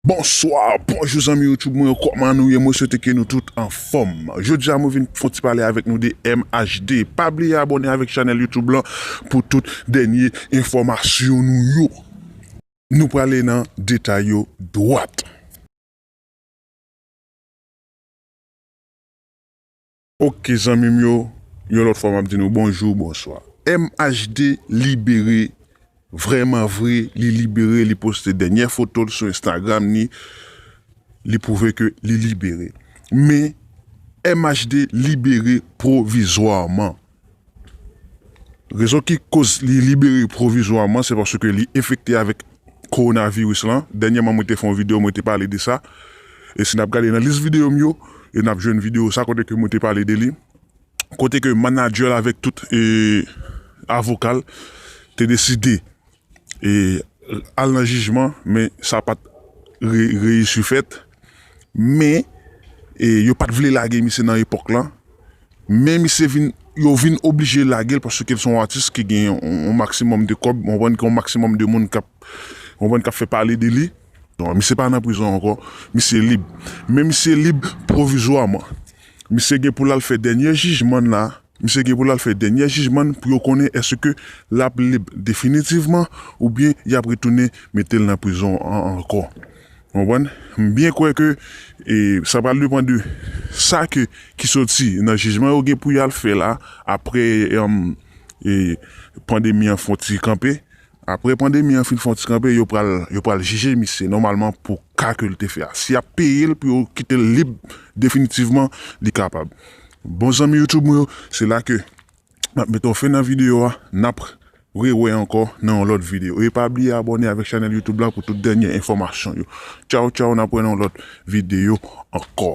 Bonsoir, bonjou zanmi YouTube mwen yo kòman nou ye mwen swete ke nou tout anfòm jodi a mwen vin fon ti pale avèk nou de MHD pa bliye abòne avèk chanèl YouTube lan pou tout dènye enfòmasyon nou yo nou prale nan detay yo dwat. Ok zanmim yo yon lot fwa map di nou bonjou bonswa MHD libere vreman vre li libere li poste denyè fotol sou Instagram ni li prouve ke li libere men MHD libere pwovizwaman Rezon ki koz li libere pwovizwaman se paske li enfekte avèk kowonaviris lan. Dènyèman mwen te fè yon videyo mwen te pale de sa. E si n ap gade nan lis videyo m yo, e n ap jwenn videyo sa kote ke mwen te pale de li. Kote ke manadjè l avèk tout avoka l te deside e al nan jijman men sa pat reyisi fèt men e yo pat vle lage misye nan epòk lan men misye vin yo vin oblije lagel paske l se yon atis ki gen yon maksimòm de kòb ou konprann ki gen yon maksimòm de moun kap ou konprann kap fè pale de li misye pa nan prizon ankò misye lib men misye lib pwovizwaman misye gen pou l al fè dènye jijman l la. Misye gen pou l al fè dènyè jijman n pou yo konnen èske l ap lib definitivman oubyen y ap retounen mete l nan prizon an ankò. Ou konprann? M byen kwè ke sa pral depan de sa ke ki soti nan jijman yo gen pou y al fè la apre pandemi an fon ti kanpe. Aprè pandemi an fin fon ti kanpe yo pral yo pral jije misye nòmalman pou ka ke l te fè a. Si yap peye l pou yo kite l lib definitivman li kapab. Bon zanmi youtube mwen yo se la ke map mete yon fen nan video a nap re wè ankò nan yon lòt video e pa bliye abòne avèk chanèl youtube la pou tout dènye enfòmasyon yo. Tchaw tchaw nap wè nan yon lòt video ankò.